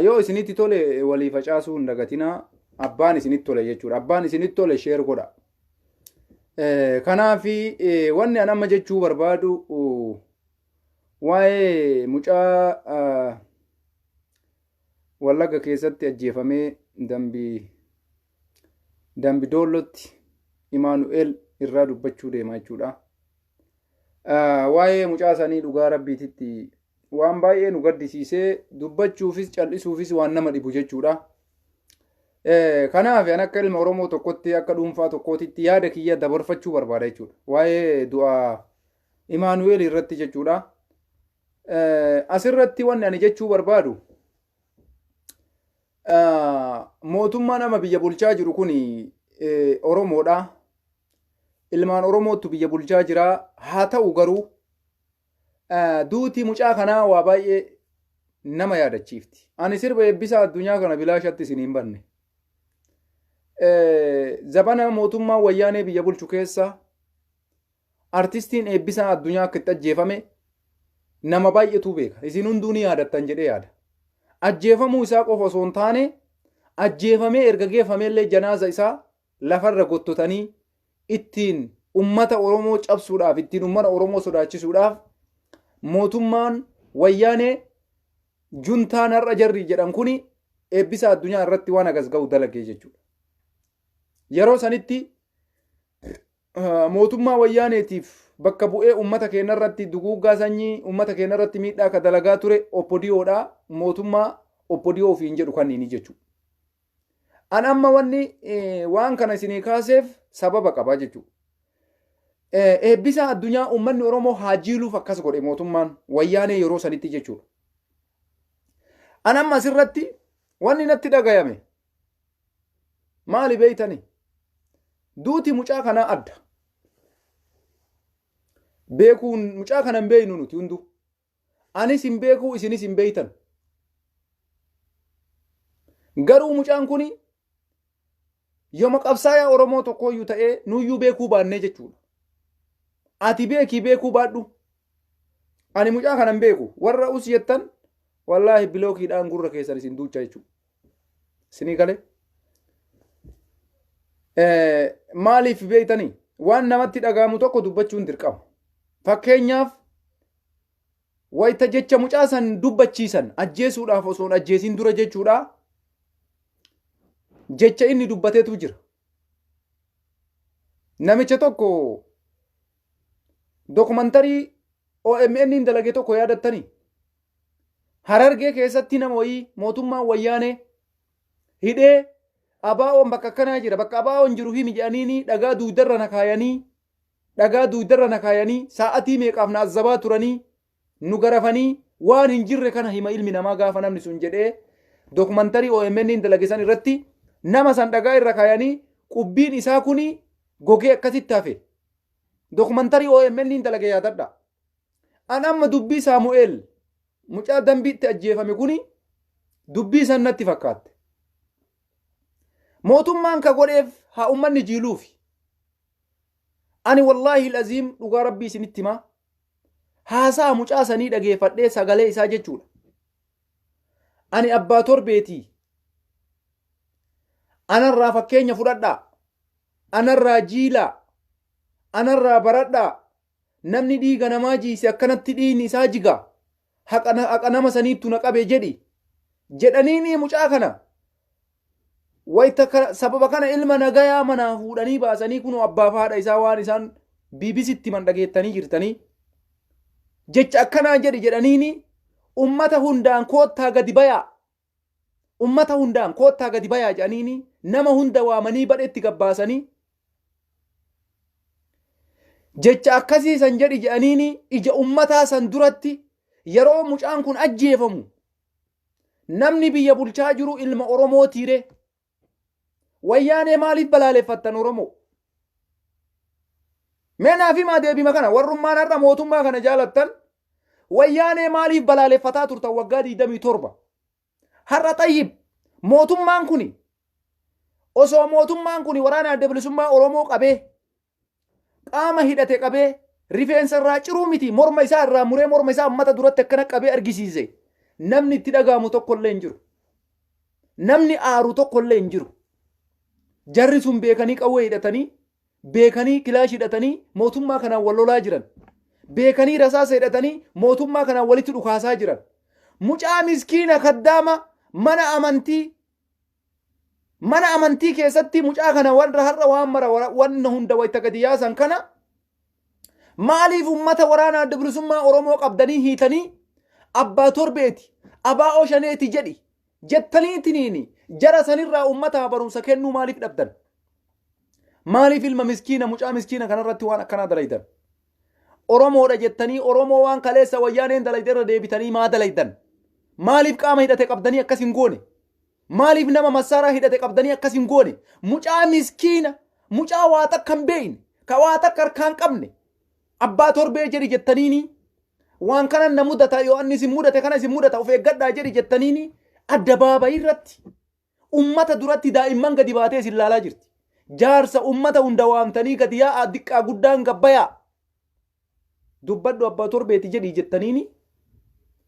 Yoo isinitti tole walii facaasuu hin dagatinaa. Abbaan isinitti tole jechuudha. Abbaan isinitti tole sheer godha. Kanaaf wanni an amma jechuu barbaadu waa'ee mucaa Wallagga keessatti ajjeefamee dambii dambi doollootti Imaanu'eel irraa dubbachuu deema jechuudha. Waa'ee mucaa sanii dhugaa rabbiititti waan baay'ee nu gaddisiisee dubbachuufis cal'isuufis waan nama dhibu jechuudha. Kanaaf an akka ilma Oromoo tokkotti akka dhuunfaa tokkootitti yaada kiyya dabarfachuu barbaada jechuudha. Waa'ee du'a Imaanu'eel irratti jechuudha. Asirratti wanni ani jechuu barbaadu mootummaa nama biyya bulchaa jiru kun Oromoodha. Ilmaan Oromoottu biyya bulchaa jira. Haa ta'u garuu duuti mucaa kanaa waa baay'ee nama yaadachiifti. Ani sirba eebbisaa addunyaa kana bilaashatti isin hin banne. Zabana mootummaa wayyaanee biyya bulchu keessa artistiin eebbisaa addunyaa akka itti ajjeefame nama baay'eetu beeka. Isin hunduu ni yaadattan jedhee yaada. Ajjeefamuu isaa qofa osoo hin taane ajjeefamee erga geeffamee illee janaaza isaa lafarra gottotanii ittiin ummata Oromoo cabsuudhaaf, ittiin ummana Oromoo sodaachisuudhaaf mootummaan wayyaanee juntaan har'a jarri jedhan kuni eebbisa addunyaa irratti waan agas ga'u dalagee jechuudha. Yeroo sanitti mootummaa wayyaaneetiif bakka bu'ee ummata keenya irratti duguuggaa sanyii ummata keenya irratti miidhaa akka dalagaa ture oppodiyoodha mootummaa oppodiyoo ofiin jedhu kanniini jechuudha. An amma wanni waan kana isinii kaaseef sababa qaba jechuudha. Eebbisaa addunyaa uummanni Oromoo haa jiiluuf akkas godhe mootummaan wayyaanee yeroo sanitti jechuudha. An amma asirratti wanni natti dhagayame maali beeytani? Duuti mucaa kanaa adda. Beekuun mucaa kana hin beeynu nuti hunduu. Anis hin beekuu isinis hin beeytan. Garuu mucaan kuni yoma qabsaayaa Oromoo tokkooyyuu ta'ee nuyyuu beekuu baannee jechuudha. Ati beekii beekuu baadhu. Ani mucaa kana hin beeku. Warra us jettan wallaahi bilookiidhaan gurra keessan isin duucha jechuudha. Isinii galee? Maaliif beektanii? Waan namatti dhaga'amu tokko dubbachuun dirqama. Fakkeenyaaf wayita jecha mucaa san dubbachiisan ajjeesuudhaaf osoo hin ajjeesiin dura jechuudha. Jecha inni dubbatetu jira. Namicha tokko dokumantarii OMN hin dalage tokko yaadattanii Harargee keessatti nama wayii mootummaan wayyaanee hidhee abaa'oon bakka akkanaa jira bakka abaa'oon jiru himi jedhaniini dhagaa duugdarra na kaayanii dhagaa duugdarra na kaayanii saa'atii meeqaaf na azzabaa turanii nu garafanii waan hin jirre kana hima ilmi namaa gaafa namni sun jedhee dokumantarii OMN hin dalagisan irratti nama san dhagaa irra kaayanii qubbiin isaa kuni gogee akkasitti hafe dokumantarii OMN hin dalage yaadadha. An amma dubbii Saamu'eel mucaa Dambiitti ajjeefame kuni dubbii san natti fakkaatte. Mootummaan ka godheef haa ummanni jiiluufi. Ani wallaahil aziim dhugaa rabbii isinitti himaa haasa'a mucaa sanii dhageeffadhee sagalee isaa jechuudha. Ani abbaa torbeetii. Anarraa fakkeenya fudhadhaa. Anarraa jiilaa. Anarraa baradhaa. Namni dhiiga namaa jiise akkanatti dhiigni isaa jiga, haqa nama saniittu na qabe jedhi. Jedhaniinii mucaa kana wayta sababa kana ilma nagayaa manaa fuudhanii baasanii kunoo abbaaf haadha isaa waan isaan BBCtti himan dhageettanii jirtanii. Jecha akkanaa jedhi jedhaniinii ummata hundaan koottaa gadi bayaa ummata hundaan koottaa gadi bayaa jedhaniini nama hunda waamanii badhetti gabbaasanii jecha akkasii san jedhi jedhaniini ija ummataa san duratti yeroo mucaan kun ajjeefamu namni biyya bulchaa jiru ilma Oromoo tiire Wayyaanee maaliif balaaleffattan Oromoo? Mee naaf himaa deebima kana warrummaan har'a mootummaa kana jaalattan wayyaanee maaliif balaaleffataa turtan waggaa 27? Har'a xayyib mootummaan kuni osoo mootummaan kuni waraana adda bilisummaa Oromoo qabee Qaama hidhate qabee, rifeensa irraa ciruu miti morma isaa irraa muree morma isaa ummata duratti akkana qabee argisiise. Namni itti dhaga'amu tokko illee hin jiru. Namni aaru tokko illee hin jiru. Jarri sun beekanii qawwee hidhatanii, beekanii kilaash hidhatanii mootummaa kanaan wal lolaa jiran. Beekanii rasaasa hidhatanii mootummaa kanaan walitti dhukaasaa jiran. Mucaa miskiina kaddaama mana amantii Mana amantii keessatti mucaa kana warra har'a waan mara wanna hunda wayita gadi yaasan kana maaliif ummata waraana adda bilisummaa Oromoo qabdanii hiitanii abbaa torbeeti abaa oshaneeti jedhi jettanii tiniini jara sanirraa ummataa barumsa kennuu maaliif dhabdan? Maaliif ilma miskiina mucaa miskiina kanarratti waan akkanaa dalaydan? Oromoodha jettanii Oromoo waan kaleessa wayyaaneen dalayde irra deebitanii maa dalaydan? Maaliif qaama hidhate qabdanii akkas hin goone? Maaliif nama massaaraa hidhate qabdanii akkas hin goone? Mucaa miskiina, mucaa waa takka hin beeyne, ka waa takka harkaa hin qabne, abbaa torbee jedhi jettaniinii, waan kanan na mudata, yoo anni isin mudate kana isin mudata, of eeggadhaa jedhi jettaniinii, addabaabayii irratti, ummata duratti daa'imman gadi baatee isin laalaa jirti. Jaarsa ummata hunda waamtanii gadi yaa'aa diqqaa guddaan gabbayaa. Dubbadhu abbaa torbeeti jedhii jettaniini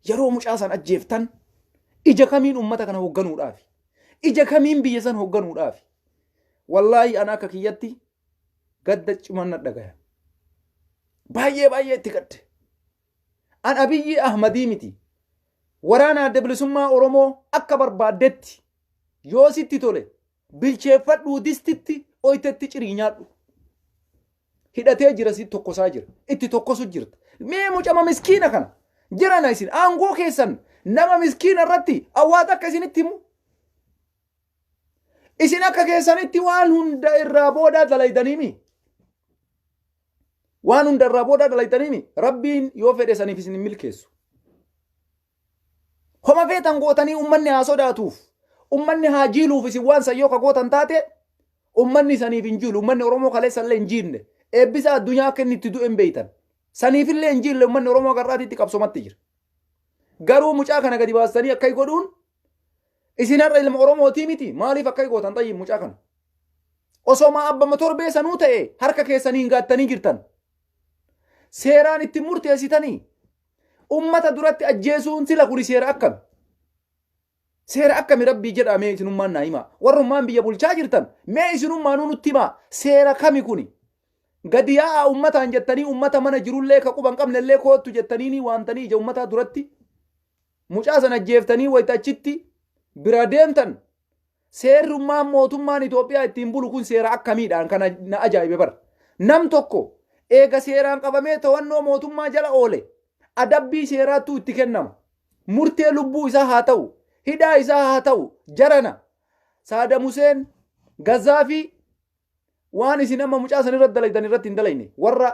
yeroo mucaa san ajjeeftan ija kamiin ummata kana hogganuudhaafi? Ija kamiin biyya san hogganuudhaafi? Wallaahi ana akka kiyyatti gadda cimaan na dhagaya. Baay'ee baay'ee itti gadde. An Abiyyii Ahmadii miti. Waraana adda bilisummaa Oromoo akka barbaaddetti yoo sitti tole Bilcheeffadhuu distitti oytetti cirii nyaadhu. Hidhatee jira si tokkosaa jira. Itti tokkosu jirta. Mee mucama miskiina kana. Jirana isin aangoo keessan nama miskiina irratti awwaata akka isinitti himu. Isin akka keessanitti waan hunda irraa boodaa dalaydaniimi. Waan hunda irraa boodaa dalaydaniimi. Rabbiin yoo fedhe saniif isin hin milkeessu. Homa feetan gootanii ummanni haa sodaatuuf, ummanni haa jiiluuf isin waan san yoo ka gootan taate ummanni saniif hin jiilu. Ummanni Oromoo kaleessallee hin jiinne. Eebbisaa addunyaa akka inni itti du'e hin beeytan. Saniifillee hin jiille ummanni Oromoo akka har'aatitti qabsomatti jira. Garuu mucaa kana gadi baastanii akkai godhuun isin har'a ilma Oromootii miti maaliif akkai gootan xayyiin mucaa kana. Osoma abbama torbee sanuu ta'e harka keessaniin gaattanii jirtan. Seeraan itti murteessitanii Ummata duratti ajjeesuun sila kuni seera akkami? Seera akkami rabbii jedhaa mee isinummaan naa himaa. Warrummaan biyya bulchaa jirtan mee isinummaanuu nutti himaa seera kami kuni? Gadi yaa'aa ummataan jettanii ummata mana jirullee ka quban qabnellee koottu jettaniini waamtanii ija ummataa duratti mucaa san ajjeeftanii wayita achitti biraa deemtan Seerrummaan mootummaan Itoophiyaa ittiin bulu kun seera akkamiidhaan kana na ajaa'ibe bar. Nam tokko eega seeraan qabamee to'annoo mootummaa jala oole adabbii seeraattuu itti kennama. Murtee lubbuu isaa haa ta'u, hidhaa isaa haa ta'u jarana Saadam Huseen, Gazzaafii waan isin amma mucaa san irratti dalaydan irratti hin dalayne warra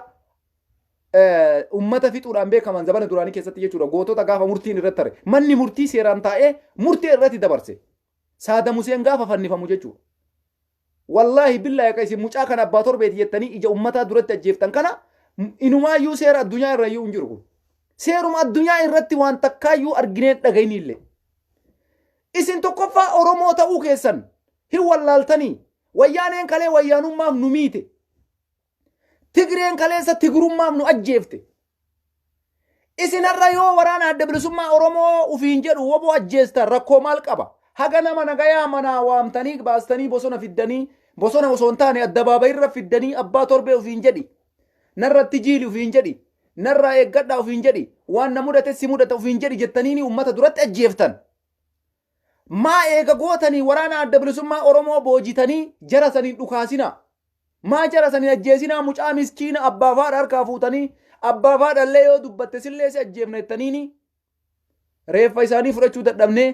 ummata fixuudhaan beekaman zabana duraanii keessatti jechuudha gootota gaafa murtiin irratti tare manni murtii seeraan taa'ee murtee irratti dabarse Saada Museen gaafa fannifamu jechuudha. Wallaahi billaahi akka isin mucaa kana abbaa torbeeti jettanii ija ummataa duratti ajjeeftan kana inumaayyuu seera addunyaa irra iyyuu hin jiru kun. Seeruma addunyaa irratti waan takkaayyuu argineen dhagayniillee. Isin tokkoffaa Oromoo ta'uu keessan hin wallaaltanii wayyaaneen kalee wayyaanummaaf nu miite. Tigreen kaleessa Tigrummaaf nu ajjeefte. Isin har'a yoo waraana adda bilisummaa Oromoo ufiin jedhu woboo ajjeestan rakkoo maal qaba? Haga nama nagayaa manaa waamtanii baastanii bosona fiddanii bosona osoo hin taane addabaabayirra fiddanii abbaa torbee ufiin jedhi. Narratti jiili ufiin jedhi. Narraa eeggadhaa ufiin jedhi. Waan na mudate si mudata ufiin jedhi jettaniini uummata duratti ajjeeftan. Maa eega gootanii waraana Adda Bilisummaa Oromoo boojitanii jara san hin dhukaasinaa? Maa jara san hin ajjeesinaa mucaa miskiina abbaaf haadha harkaa fuutanii abbaaf haadha illee yoo dubbatte sillee si ajjeefna jettaniini reeffa isaanii fudhachuu dadhabnee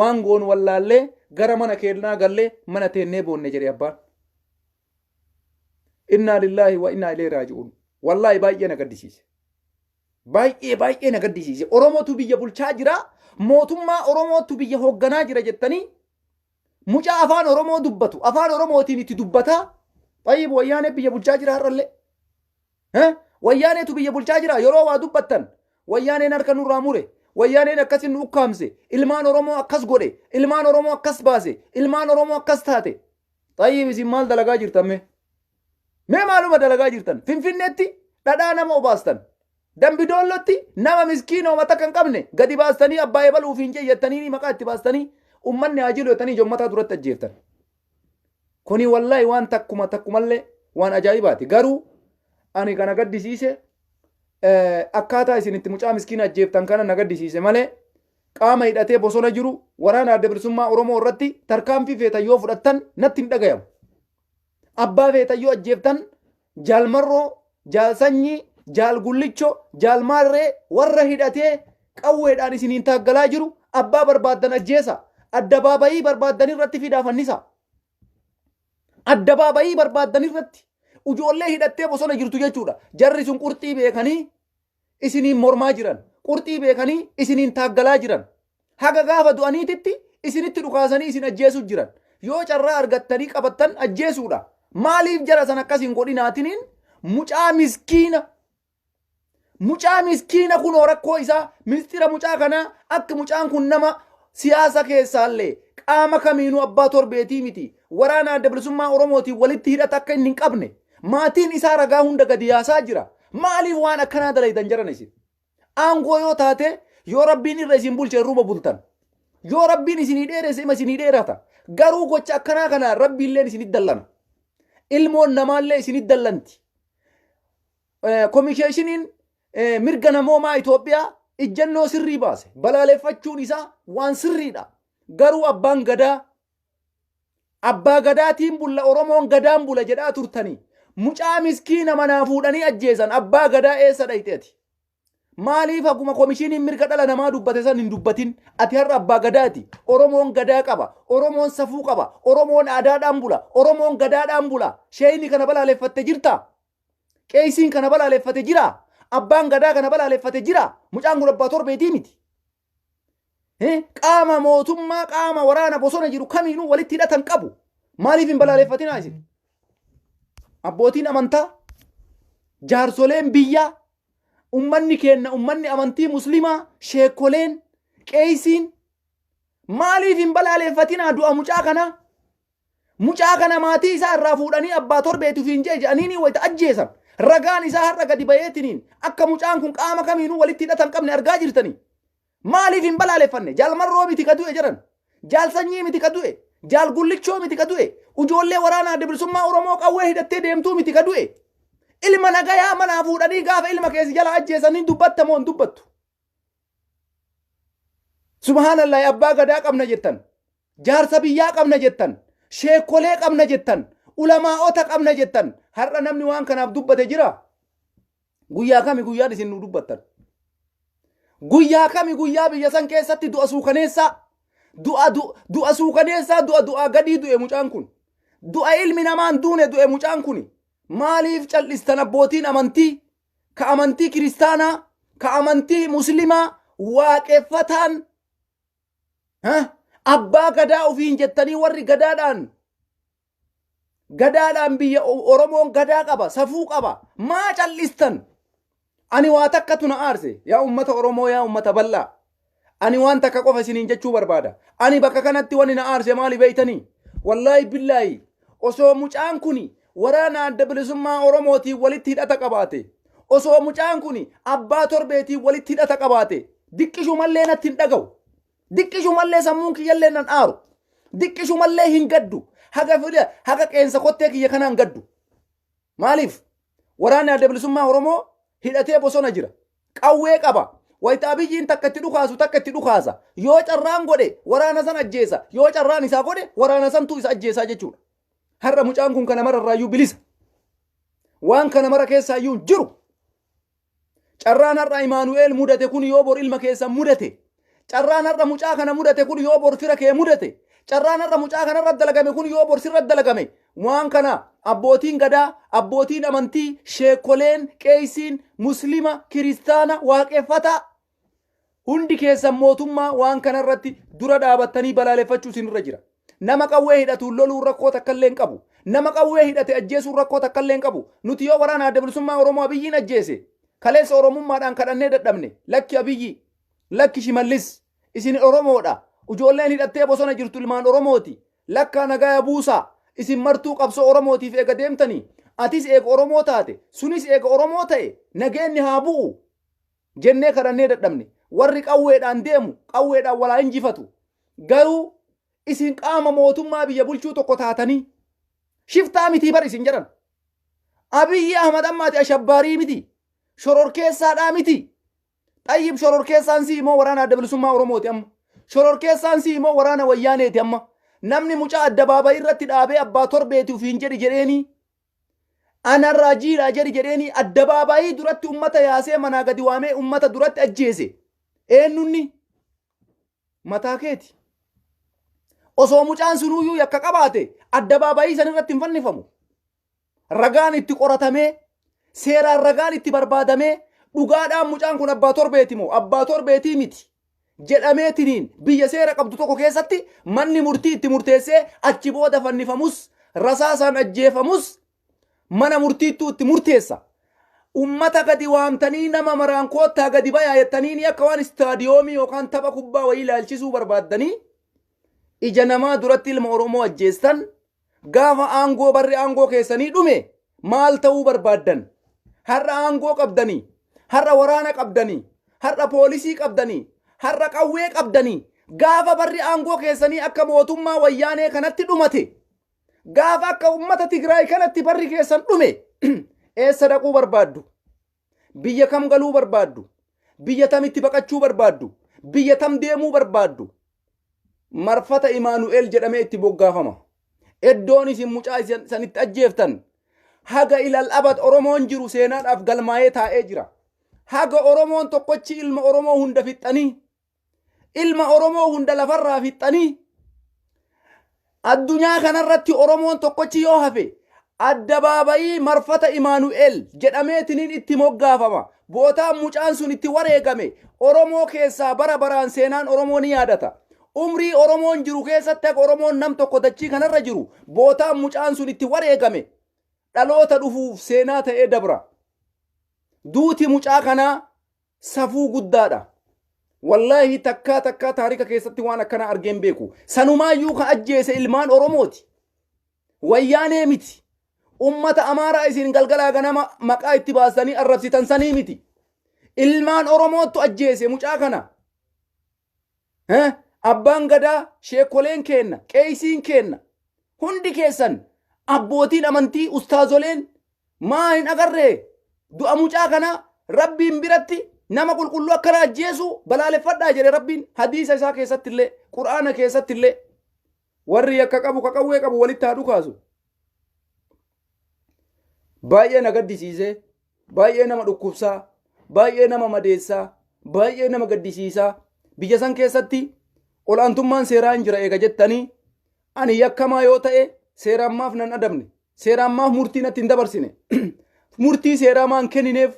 waan goonu wallaallee gara mana keennaa gallee mana teennee boonne jedhe abbaan. Innaa lillaahi wa innaa ilee raaji'uun. Wallaahi baay'ee na gaddisiise. Baay'ee baay'ee na gaddisiise. Oromootu biyya bulchaa jira. Mootummaa Oromootu biyya hoogganaa jira jettanii mucaa afaan Oromoo dubbatu afaan Oromootiin itti dubbataa xayyib wayyaanee biyya bulchaa jira har'allee. Eh? Wayyaaneetu biyya bulchaa jira yeroo waa dubbattan wayyaaneen harka nurraa mure wayyaaneen akkas nu ukkaamse ilmaan Oromoo akkas godhe ilmaan Oromoo akkas baase ilmaan Oromoo akkas taate Xayyib isin maal dalagaa jirtan mee? Mee maaluma dalagaa jirtan? Finfinneetti dhadhaa nama obaastan. Dambi doollootti nama miskiina homa takka hin qabne gadi baastanii abbaa eebal ufiin jettanii maqaa itti baastanii ummanni haa jilu jettanii jommataa duratti ajjeeftan. Kuni wallahi waan takkuma takkumallee waan ajaa'ibaati. Garuu ani kana gaddisiise akkaataa isin itti mucaa miskiina ajjeeftan kana na gaddisiise malee qaama hidhatee bosona jiru waraana Adda Bilisummaa Oromoo irratti tarkaanfii feetan yoo fudhattan natti hin dhagayamu. Abbaa feetan yoo ajjeeftan Jaal Marroo, Jaal Sanyii, Jaal Gullicho, Jaal Maarree warra hidhatee qawweedhaan isiniin taaggalaa jiru abbaa barbaaddan ajjeesa. Addabaabayii barbaaddan irratti fidaa fannisa. Addabaabayii barbaaddan irratti ujoollee hidhattee bosona jirtu jechuudha. Jarri sun qurxii beekanii isiniin mormaa jiran, qurxii beekanii isiniin taaggalaa jiran, haga gaafa du'aniititti isinitti dhukaasanii isin ajjeesuu jiran. Yoo carraa argattanii qabattan ajjeesuudha. Maaliif jara san akkas hin godhinaatiniin mucaa miskiina mucaa miskiina kunoo rakkoo isaa mistira mucaa kanaa akka mucaan kun nama siyaasa keessaallee qaama kamiinuu abbaa torbeetii miti waraana adda bilisummaa oromootiin walitti hidhata akka inni hin qabne maatiin isaa ragaa hunda gadi yaasaa jira Maaliif waan akkanaa dalaydan jaran isin? Aangoo yoo taatee yoo rabbiin irra isin bulche irruma bultan. Yoo rabbiin isinii dheeresse ima isinii dheerata. Garuu gocha akkanaa kanaan rabbiilleen isinit dallana. Ilmoon namaallee isinit dallanti. Eh, Komisheeshiniin eh, mirga namoomaa Itoophiyaa ijjannoo sirrii baase. Balaaleffachuun isaa waan sirriidha. Garuu abbaan gadaa Abbaa gadaatiin bulla Oromoon gadaan bula jedhaa turtanii. Mucaa miskiina manaa fuudhanii ajjeesan abbaa gadaa eessa dhayxe ati? Maaliif haguma komishiniin mirga dhala namaa dubbate san hin dubbatin? Ati har'a abbaa gadaati. Oromoon gadaa qaba. Oromoon safuu qaba. Oromoon aadaadhaan bula. Oromoon gadaadhaan bula. Sheeyni kana balaaleffatte jirta? Qeeysiin kana balaaleffate jira? Abbaan gadaa kana balaaleffate jira? Mucaan kun abbaa torbeetii miti. Qaama mootummaa qaama waraana bosona jiru kamiinuu walitti hidhatan qabu. Maaliif hin balaaleffatinaa isin? Abbootiin amantaa, jaarsoleen biyyaa, ummanni keenna ummanni amantii muslimaa, sheekoleen, qeeysiin maaliif hin balaaleffatinaa du'a mucaa kanaa? Mucaa kana maatii isaa irraa fuudhanii abbaa torbeeti ofiin je'e je'aniinii wayta ajjeesan ragaan isaa har'a gadi bayeetiniin akka mucaan kun qaama kamiinuu walitti hidhata hin qabne argaa jirtanii. Maaliif hin balaaleffanne? Jaal Marroo miti ka du'e jedhan. Jaal Sanyii miti ka du'e. Jaal Gullichoo miti ka du'e. Ujoollee waraana Adda Bilisummaa Oromoo qawwee hidhattee deemtuu miti ka du'e. Ilma nagayaa manaa fuudhanii gaafa ilma kee si jalaa ajjeesanii dubbatta moo hin dubbattu? Subhaanallahi abbaa gadaa qabna jettan. Jaarsa biyyaa qabna jettan, sheekkolee qabna jettan, ulamaa'ota qabna jettan, har'a namni waan kanaaf dubbate jiraa? Guyyaa kami guyyaan isin nuu dubbattan? Guyyaa kami guyyaa biyya san keessatti du'a suukaneessaa? Du'a du- du'a suukaneessaa du'a du'aa gadii du'e mucaan kun. Du'a ilmi namaan duune du'e mucaan kuni. Maaliif cal'istan abbootiin amantii? Ka amantii kiristaanaa, ka amantii muslimaa, waaqeffataan Ha? Abbaa gadaa ofiin jettanii warri gadaadhaan gadaadhaan biyya O- Oromoon gadaa qaba, safuu qaba. Maa callistan? Ani waa takka tuna aarse. Yaa uummata Oromoo, yaa uummata bal'aa. Ani waan takka qofa isiniin jechuu barbaada. Ani bakka kanatti wani na aarse maali beeytanii? Wallaahi billaahi osoo mucaan kuni Waraana Adda Bilisummaa Oromootiin walitti hidhata qabaate. Osoo mucaan kun abbaa torbeetiin walitti hidhata qabaate diqqishumallee natti hin dhagahu. Diqqishumallee sammuun kiyyallee nan aaru. Diqqishumallee hin gaddu. Haga fida haga qeensa kottee kiyya kanaan gaddu. Maaliif? Waraanni Adda Bilisummaa Oromoo hidhatee bosona jira. Qawwee qaba. Wayita Abiyyiin takka itti dhukaasu takka itti dhukaasa. Yoo carraan godhe waraana san ajjeesa. Yoo carraan isaa godhe waraana santu isa ajjeesaa jechuudha. Har'a mucaan kun kana mara irraayyuu bilisa. Waan kana mara keessaa iyyuu hin jiru. Carraan har'a Imaanu'eel mudate kun yoo bor ilma keessan mudate, carraan har'a mucaa kana mudate kun yoo bor fira kee mudate, carraan har'a mucaa kana irra dalagame kun yoo bor sirra dalagame, waan kana abbootiin gadaa, abbootiin amantii, sheekoleen, qeeysiin, muslima, kiristaana, waaqeffataa, Hundi keessan mootummaa waan kana irratti dura dhaabattanii balaaleffachuu isin irra jira. Nama qawwee hidhatuun loluun rakkoo takka illee hin qabu. Nama qawwee hidhate ajjeesuun rakkoo takka illee hin qabu. Nuti yoo waraana adda bilisummaa Oromoo Abiyyiin ajjeese kaleessa Oromummaadhaan kadhannee dadhabne. Lakki Abiyyii. Lakki Shimallis. Isin Oromoodha. Ujoolleen hidhattee bosona jirtu ilmaan Oromooti. Lakkaa nagaya buusaa. Isin martuu qabsoo Oromootiif eega deemtanii atis eega Oromoo taate sunis eega Oromoo ta'e nageenni haa bu'u. Jennee kadhannee dadhabne. Warri qawweedhaan deemu qawweedhaan wal haa injifatu. Garuu isin qaama mootummaa biyya bulchuu tokko taatanii shiftaa mitii bar isin jedhan. Abiyyi Ahmad amma ati ashabbaarii mitii? Shororkeessaadhaa mitii? Xayyib shororkeessaan sii moo waraana adda bilisummaa Oromooti amma? Shororkeessaan sii moo waraana wayyaaneeti amma? Namni mucaa addabaabayii irratti dhaabee abbaa torbeeti ufiin jedhi jedheenii Ana raajiidha jedhi jedheenii addabaabaayii duratti ummata yaasee manaa gadi waamee ummata duratti ajjeese. Eennunni? Mataa keeti. Osoo mucaan sunuuyyuu yakka qabaate addabaabaayii san irratti hin fannifamu. Ragaan itti qoratamee, seeraan ragaan itti barbaadamee, dhugaadhaan mucaan kun abbaa torbeeti moo abbaa torbeetii miti jedhameetiniin biyya seera qabdu tokko keessatti manni murtii itti murteessee achi booda fannifamus rasaasaan ajjeefamus mana murtiittuu itti murteessa. Ummata gadi waamtanii nama maraan koottaa gadi bayaa jettaniini akka waan istaadiyoomii yookaan tapha kubbaa wayii ilaalchisuu barbaaddanii ija namaa duratti ilma Oromoo ajjeestan Gaafa aangoo barri aangoo keessanii dhume maal ta'uu barbaaddan? Har'a aangoo qabdanii, har'a waraana qabdanii, har'a poolisii qabdanii, har'a qawwee qabdanii, gaafa barri aangoo keessanii akka mootummaa wayyaanee kanatti dhumate, gaafa akka ummata Tigraay kanatti barri keessan dhume eessa dhaquu barbaaddu? Biyya kam galuu barbaaddu? Biyya tamitti baqachuu barbaaddu? Biyya tam deemuu barbaaddu? Marfata Imaanu'eel jedhamee itti boggaafama. Eddoon isin mucaa isin san itti ajjeeftan haga ilal abad Oromoon jiru seenaadhaaf galmaa'ee taa'ee jira. Haga Oromoon tokkochi ilma Oromoo hunda fixxanii Ilma Oromoo hunda lafarraa fixxanii addunyaa kanarratti Oromoon tokkochi yoo hafe addabaabayii marfata Imaanu'eel jedhameetiniin itti moggaafama. Bootaan mucaan sun itti wareegame Oromoo keessaa bara baraan seenaan Oromoo ni yaadata. Umrii Oromoon jiru keessatti akka Oromoon nam tokko dachii kanarra jiru bootaan mucaan sun itti wareegame dhaloota dhufuuf seenaa ta'ee dabra. Duuti mucaa kanaa Safuu guddaadha. Wallaahi takkaa takkaa taarika keessatti waan akkana argeen beeku. Sanumaayyuu ka ajjeese ilmaan Oromooti. Wayyaanee miti. Ummata Amaaraa isin galgalaa ganama maqaa itti baastanii arrabsitan sanii miti. Ilmaan Oromoottu ajjeese mucaa kana. Eh, Abbaan gadaa, sheekoleen keenna, qeeysiin keenna, hundi keessan abbootiin amantii, ustaazoleen maa hin agarree du'a mucaa kanaa rabbiin biratti nama qulqulluu akkana ajjeesuu balaaleffadhaa jedhe rabbiin hadiisa isaa keessatti illee qur'aana keessatti illee Warri yakka qabu ka qawwee qabu walitti haa dhukaasu. Baay'ee na gaddisiisee, baay'ee nama dhukkubsaa, baay'ee nama madeessaa, baay'ee nama gaddisiisaa. Biyya san keessatti ol'aantummaan seeraa hin jira eega jettanii ani yakkamaa yoo ta'e seeraan maaf nan adabne? Seeraan maaf murtii natti hin dabarsine? Murtii seeraa maan kennineef?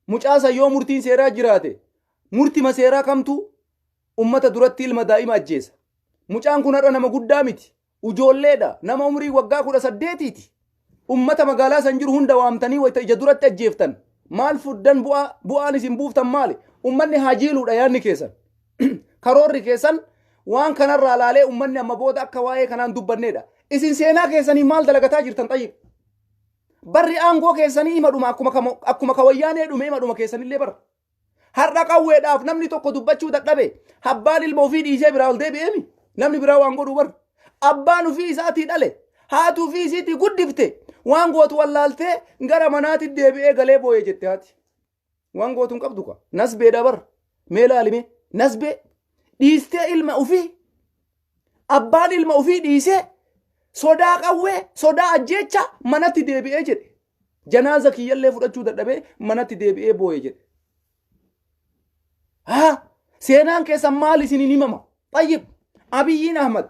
Mucaa san yoo murtiin seeraa jiraate murtima seeraa kamtu ummata duratti ilma daa'ima ajjeesa? Mucaan kun har'a nama guddaa miti. Ujoolleedha. Nama umriin waggaa 18ti. Ummata magaalaa san jiru hunda waamtanii wayta ija duratti ajjeeftan maal fuddan bu'aa bu'aan isin buuftan maali? Ummanni haa jiiluudha yaadni keessan. Karoorri keessan waan kanarraa laalee ummanni amma booda akka waa'ee kanaan dubbanneedha. Isin seenaa keessaniif maal dalagataa jirtan xayyib? Barri aangoo keessanii ima dhuma akkuma kamo- akkuma ka wayyaanee dhume ima dhuma keessanillee bara. Har'a qawweedhaaf namni tokko dubbachuu dadhabe abbaan ilma ofii dhiisee biraa ol deebi'eemi namni biraa waan godhu bara. Abbaan ofii isaatii dhale haati ofii isiitii guddifte waan gootu wallaaltee gara manaatti deebi'ee galee boo'ee jette haati. Waan gootu hin qabdu kaa. Nasbeedha bar. Mee laalime. Nasbee dhiistee ilma ofii abbaan ilma ofii dhiisee sodaa qawwee sodaa ajjeecha manatti deebi'ee jedhe. Janaaza kiyyallee fudhachuu dadhabee manatti deebi'ee booye jedhe. Haa seenaan keessan maal isiniin himama? Xayyib Abiyyiin Ahmad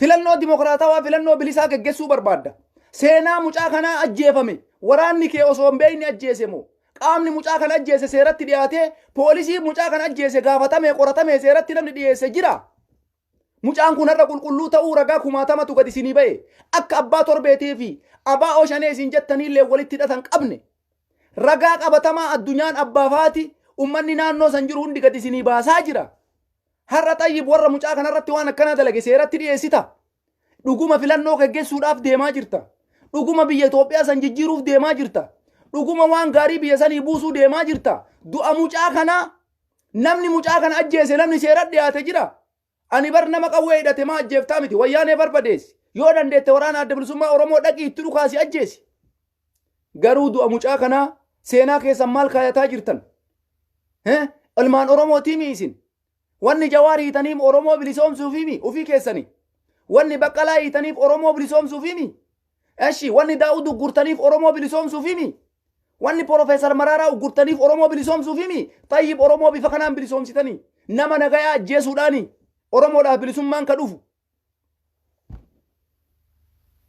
Filannoo dimokiraatawaa, filannoo bilisaa geggessuu barbaadda. Seenaa mucaa kanaa ajjeefame waraanni kee osoo hin beekne ajjeese moo? Qaamni mucaa kana ajjeese seeratti dhiyaatee poolisii mucaa kana ajjeese gaafatamee qoratamee seeratti namni dhiyeesse jiraa? Mucaan kun har'a qulqulluu ta'uu ragaa kumaatamatu gad isinii ba'e. Akka abbaa torbeetii fi abaa'oo shanee isin jettaniillee walitti hidhata hin qabne. Ragaa qabatamaa addunyaan abbaaf haati ummanni naannoo san jiru hundi gad isinii baasaa jira. Har'a Xayyib warra mucaa kanarratti waan akkanaa dalage seeratti dhiyeessita? Dhuguma filannoo geggessuudhaaf deemaa jirta? Dhuguma biyya Itoophiyaa san jijjiiruuf deemaa jirta? Dhuguma waan gaarii biyya sanii buusuu deemaa jirta? Du'a mucaa kanaa namni mucaa kana ajjeese namni seeratti dhiyaate jira? Ani bar nama qawwee hidhate maa ajjeeftaa miti wayyaanee barbadeessi. Yoo dandeette waraana adda bilisummaa Oromoo dhaqii itti dhukaasi ajjeesi. Garuu du'a mucaa kanaa seenaa keessan maal kaayataa jirtan? Hee? Ilmaan Oromootiimi isin? Wanni Jawaar hiitaniim Oromoo bilisoomsuufiimi ufii keessani? Wanni Baqqalaa hiitaniif Oromoo bilisoomsuufiimi? Eshi wanni Daawud uggurtaniif Oromoo bilisoomsuufiimi? Wanni Profeesar Maraaraa uggurtaniif Oromoo bilisoomsuufiimi? Xayyib Oromoo bifa kanaan bilisoomsitani? Nama nagayaa ajjeesuudhaani? Oromoodhaaf bilisummaan ka dhufu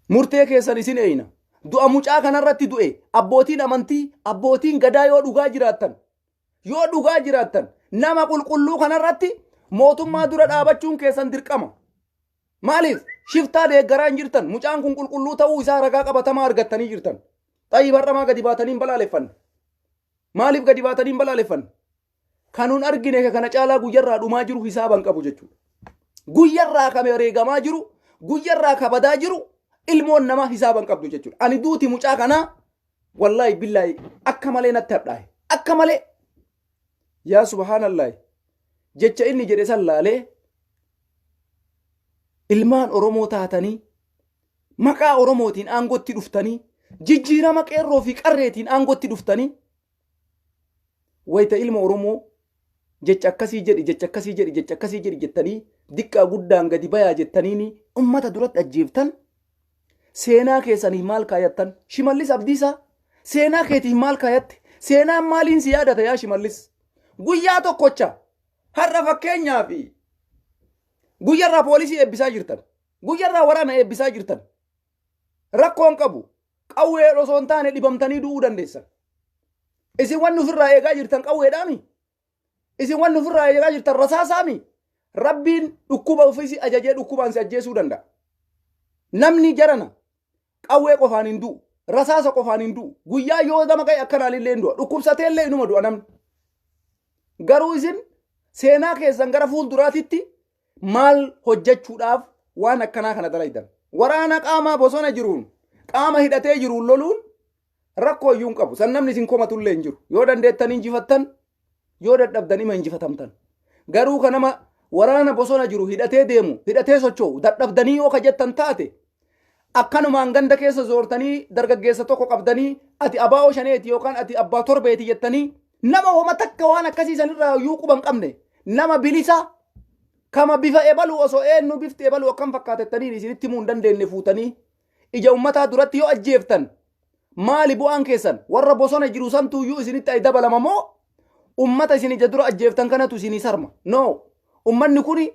Murtee keessan isin eeyna. Du'a mucaa kanarratti du'e abbootiin amantii abbootiin gadaa yoo dhugaa jiraattan yoo dhugaa jiraattan nama qulqulluu kanarratti mootummaa dura dhaabachuun keessan dirqama. Maaliif shiftaa deeggaraa hin jirtan mucaan kun qulqulluu ta'uu isaa ragaa qabatamaa argattanii jirtan. Xayyib har'amaa gadi baatanii hin balaaleffanne. Maaliif gadi baatanii hin balaaleffanne? Kan nun argine kana caalaa guyyarraa dhumaa jiru hisaaba hin qabu jechuudha. Guyyarraa kan wareegamaa jiru, guyyarraa kan badaa jiru ilmoon namaa hisaaba hin qabdu jechuudha. Ani duuti mucaa kanaa wallaahi billaahi akka malee natti hadhaaye. Akka malee yaa subhaanallaahi jecha inni jedhe san laalee ilmaan Oromoo taatanii maqaa Oromootiin aangootti dhuftanii jijjiirama qeerroo fi qarreetiin aangootti dhuftanii wayta ilma Oromoo jecha akkasii jedhi jecha akkasii jedhi jecha akkasii jedhi jettanii diqqaa guddaan gadi bayaa jettaniini ummata duratti ajjeeftan seenaa keessaniif maal kaayattan shimallis abdiisaa seenaa keetiif maal kaayatte seenaan maaliin si yaadata yaa shimallis guyyaa tokkocha har'a fakkeenyaa fi guyyarraa poolisii eebbisaa jirtan guyyarraa waraana eebbisaa jirtan rakkoon qabu Qawween osoo hin taane dhibamtanii du'uu dandeessan. Isin wanni ofirraa eegaa jirtan qawweedhaami. Isin wanni ofirraa eegaa jirtan rasaasaami. Rabbiin dhukkuba ofiisi ajajee dhukkubaan si ajjeesuu danda'a. Namni jarana qawwee qofaan hin du'u. Rasaasa qofaan hin du'u. Guyyaa yoo gama ga'e akkanaan illee hin du'a. Dhukkubsatee illee inuma du'a namni. Garuu isin seenaa keessan gara fuulduraatitti maal hojjechuudhaaf waan akkanaa kana dalaydan waraana qaamaa bosona jiruun qaama hidhatee jiruun loluun rakkoo iyyuu hin qabu san namni isin komatullee hin jiru yoo dandeettan injifattan yoo dadhabdan ima injifatamtan garuu ka nama waraana bosona jiru hidhatee deemu hidhatee socho'u dadhabdanii yoo ka jettan taate akkanumaan ganda keessa zoortanii dargaggeessa tokko qabdanii ati abaa'oo shaneeti yookaan ati abbaa torbeeti jettanii Nama homa takka waan akkasii sanirraa iyyuu quba hin qabne nama bilisaa kama bifa ebalu osoo eenyu bifti ebalu akkam fakkaatettaniin isinitti himuu hin dandeenye fuutanii ija ummataa duratti yoo ajjeeftan maali bu'aan keessan warra bosona jiru santu iyyuu isinitti ay dabalama moo ummata isin ija dura ajjeeftan kanatu isinii sarma no ummanni kuni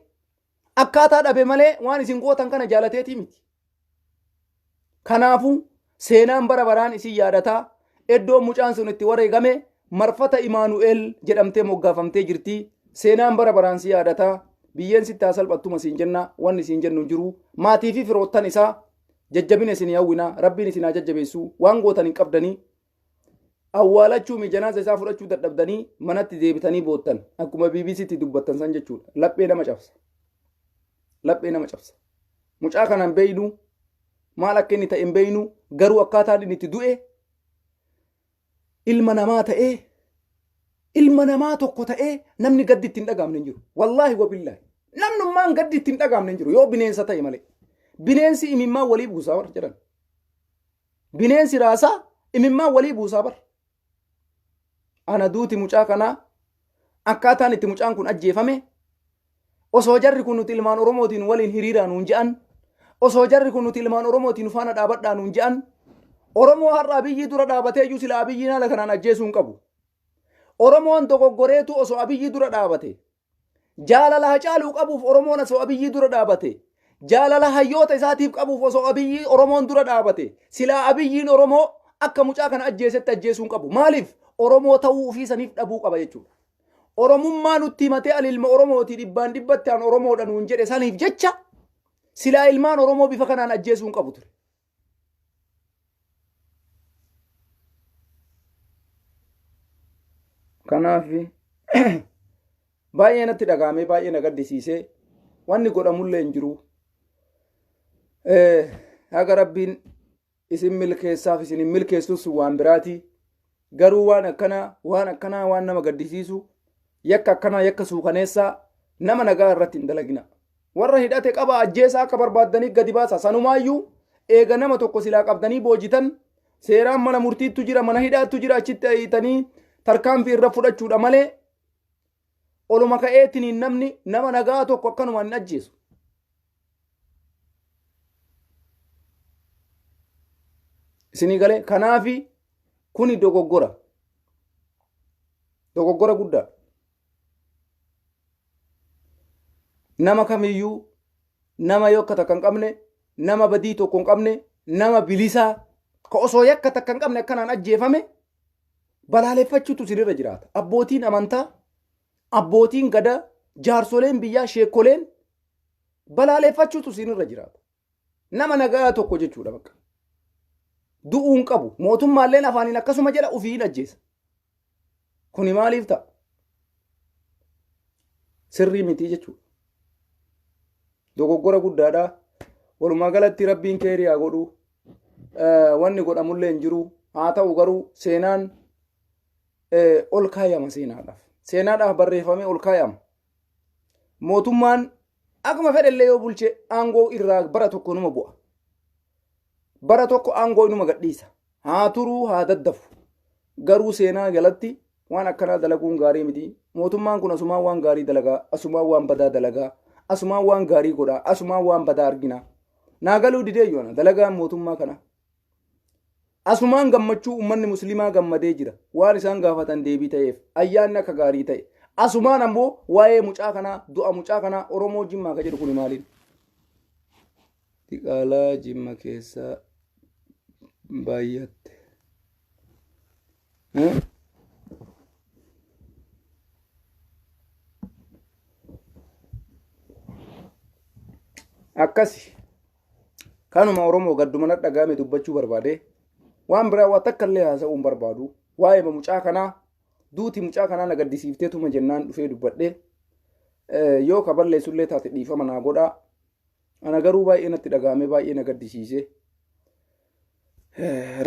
Akkaataa dhabe malee waan isin gootan kana jaalateetii miti. Kanaafuu seenaan bara baraan isin yaadata. Iddoon mucaan sun itti wareegame marfata Imaanu'eel jedhamtee moggaafamtee jirti. Seenaan bara baraan si yaadata. Biyyeen sitti haa salphattuma siin jenna. Wanni siin jennu hin jiru. Maatii fi firoottan isaa jajjabina isin hawwina. Rabbiin isin haa jajjabeessu. Waan gootan hin qabdanii. awwaalachuu mi janaasa isaa fudhachuu dadhabdanii manatti deebitanii boottan akkuma BBCtti dubbattan san jechuudha laphee nama cabsa laphee nama cabsa mucaa kanaan beeynu maal akka inni ta'e hin beeynu garuu akkaataan inni itti du'e ilma namaa ta'ee ilma namaa tokko ta'ee namni gaddi itti hin dhagaamne hin jiru wallaahi wabillaahi namnummaan gaddi itti hin dhagaamne hin jiru yoo bineensa ta'e malee bineensi imimmaan walii buusaa warra jedhan Bineensi raasaa imimmaan walii buusaa bar. Ana duuti mucaa kanaa akkaataan itti mucaan kun ajjeefame osoo jarri kun nuti ilmaan Oromootiin waliin hiriiraa nuun je'an osoo jarri kun nuti ilmaan Oromootiin faana dhaabadhaa nuun je'an Oromoo har'a Abiyyii dura dhaabatee iyyuu sila Abiyyiin haala kanaan ajjeesuu hin qabu. Oromoon dogoggoreetu osoo Abiyyii dura dhaabate Jaalala Hacaaluu qabuuf Oromoon osoo Abiyyii dura dhaabate, jaalala hayyoota isaatiif qabuuf osoo Abiyyii Oromoon dura dhaabate, silaa Abiyyiin Oromoo akka mucaa kana ajjeesetti ajjeesuu hin qabu. Maaliif? Oromoo ta'uu ofii saniif dhabuu qaba jechuudha. Oromummaa nutti himatee ani ilma Oromooti dhibbaan dhibbatti an Oromoodha nuun jedhe saniif jecha silaa ilmaan Oromoo bifa kanaan ajjeesuu hin qabu ture. kanaaf baay'ee natti dhagahamee baay'ee na gaddisiisee wanni godhamullee hin jiru haga rabbiin isin milkeessaaf isin hin milkeessus waan biraatii garuu waan akkanaa waan akkanaa waan nama gaddisiisu yakka akkanaa yakka suukaneessaa nama nagaa irratti hin dalagina warra hidhate qaba ajjeesaa akka barbaaddanii gadi baasa sanumaayyuu eega nama tokko silaa qabdanii boojitan seeraan mana murtiittu jira mana hidhaattu jira achitti ayitanii tarkaanfii irra fudhachuudha malee Oluma ka'eetiin namni nama nagaa tokko akkanumaan hin ajjeesu. Isinii galee kanaafi kuni dogoggora. Dogoggora guddaa. Nama kamiyyuu nama yoo akka takka hin qabne nama badii tokko hin qabne nama bilisaa ka osoo yakka takka hin qabne akkanaan ajjeefame balaaleffachuutu isinirra jiraata. Abbootiin amantaa, abbootiin gadaa, jaarsoleen biyyaa, sheekoleen balaaleffachuutu isinirra jiraata. Nama nagaa tokko jechuudha bakka. Du'uu hin qabu. Mootummaalleen afaaniin akkasuma jedha ofii hin ajjeesa. Kuni maaliif ta'a? Sirrii mitii jechuudha. Dogoggora guddaadha. Walumaa galatti rabbiin keerii haa godhu. wanni godhamullee hin jiru haa ta'u garuu seenaan ol kaayama seenaadhaaf seenaadhaaf barreeffamee ol kaayama mootummaan akkuma fedhellee yoo bulche aangoo irraa bara tokko numa bu'a bara tokko aangoo inuma gadhiisa haa turuu haa daddafu garuu seenaa jalatti Waan akkanaa dalaguun gaarii miti. Mootummaan kun asumaan waan gaarii dalagaa, asumaan waan badaa dalagaa, asumaan waan gaarii godhaa, asumaan waan badaa argina. Naa galuu didee yoona dalagaan mootummaa kana. Asumaan gammachuu uummanni musliimaa gammadee jira. Waan isaan gaafatan deebii ta'eef ayyaanni akka gaarii ta'e. Asumaan ammoo waa'ee mucaa kanaa du'a mucaa kanaa Oromoo Jimmaa ka jedhu kuni maaliin? Diqaalaa Jimma keessaa baay'atte. akkasi kanuma oromoo gadduma na dhaga'ame dubbachuu barbaade waan biraa waa takka illee haasa'uun barbaadu waa'ee mucaa kanaa duuti mucaa kanaa na gaddisiiftee tuma jennaan dhufee dubbadhe yoo ka balleessu illee taate dhiifama naa godhaa ana garuu baay'ee natti dhaga'ame baay'ee na gaddisiise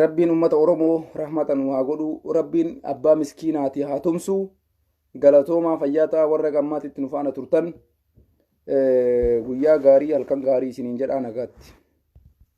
Rabbiin ummata Oromoo rahmata nu haa godhu. Rabbiin abbaa miskiinaati haa tumsu. Galatoomaa fayyaa ta'a warra gammaatti itti nu faana turtan. Guyyaa gaarii halkan gaarii isiniin jedhaa nagaatti.